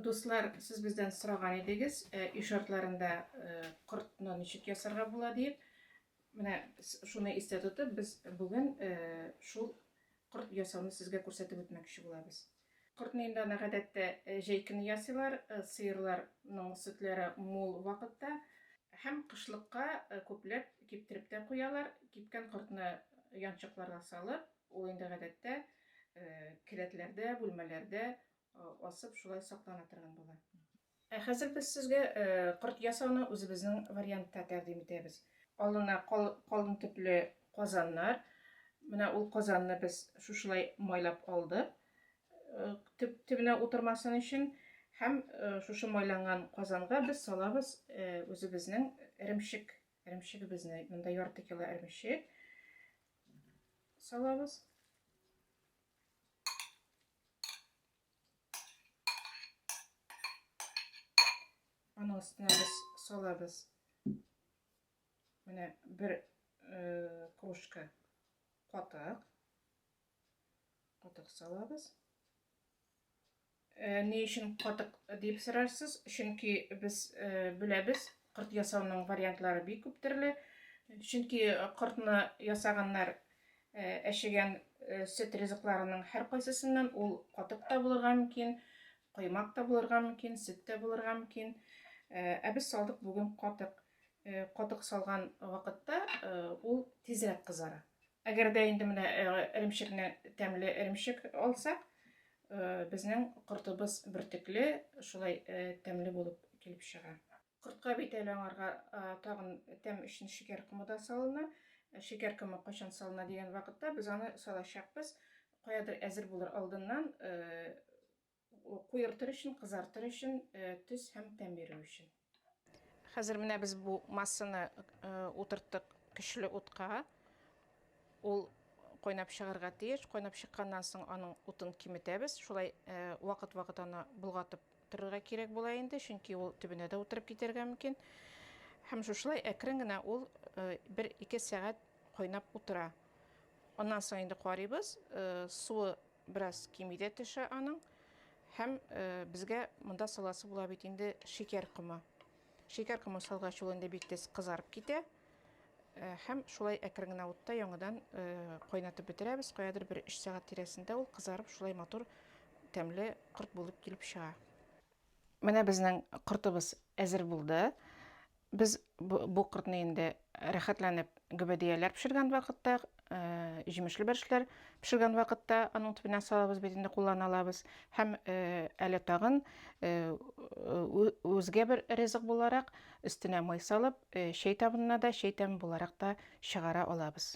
Дуслар, сез бездән сораган идегез, өй шартларында кортны ничек ясарга була диеп. Менә шуны истә тотып, без бүген шул корт ясауны сезгә күрсәтеп үтмәкче булабыз. Кортны инде аны гадәттә җәй көне ясыйлар, сыерларның сөтләре мул вакытта һәм кышлыкка күпләп киптереп тә куялар. Кипкән кортны янчыкларга салып, ул инде гадәттә келәтләрдә, бүлмәләрдә Асып шулай саклана торган була. Ә хәзер без сезгә корт ясауны үзебезнең вариантта тәкъдим итәбез. Алына калын төпле казаннар. Менә ул казанны без шушылай майлап алдык. Төп төбенә утырмасын өчен һәм шушы майланган казанга без салабыз үзебезнең эремчек, эремчегебезне. Монда ярты кило эремчек салабыз. Аның өстенә без салабыз. Менә бер э, кружка катык. Катык салабыз. Э, ни өчен катык дип сорарсыз? Чөнки без э, беләбез, кырт ясауның вариантлары бик күп төрле. Чөнки кыртны ясаганнар Әчегән сөт ризыкларының һәркайсысыннан ул катык та булырга мөмкин, коймак та булырга мөмкин, сөт тә булырга мөмкин. Ә без салдык бүген катык. Катык салган вакытта ул тизрәк кызара. Әгәр дә инде менә эремчекне тәмле эремчек алсак, безнең кортыбыз бөртекле, шулай тәмле булып килеп чыга. Кортка бит әле аңарга тагын тәм өчен шикәр комы да салына. Шикәр комы кайчан салына дигән вакытта без аны салачакбыз. Каядыр әзер булыр алдыннан куертыр өчен, кызартыр өчен, төс һәм тәм бирү өчен. Хәзер менә без бу массаны утырттык көчле утка. Ул кайнап чыгарга тиеш. Кайнап чыкканнан соң аның утын киметәбез. Шулай вакыт-вакыт аны болгатып Торырга кирәк була инде, чөнки ул төбенә дә утырып китәргә мөмкин. Һәм шушылай әкрен генә ул бер-ике сәгать кайнап утыра. Аннан соң инде карыйбыз, суы бераз кими дә төшә аның. Һәм безгә монда саласы була бит инде шикәр комы. Шикәр комы салгач ул инде бик тиз кызарып китә. Һәм шулай әкрен генә утта яңадан кайнатып бетерәбез. Каядыр бер 3 сәгать тирәсендә ул кызарып, шулай матур тәмле корт булып килеп чыга. Менә безнең кортыбыз әзер булды. Без бу кортны инде рәхәтләнеп гөбәдияләр пешергән вакытта Э, җимешле бәршләр пешергән вакытта аның төбенә салабыз бит инде куллана алабыз һәм э, әле тагын э, үзгә бер ризык буларак өстенә май салып чәй табынына да чәй тәме буларак та чыгара алабыз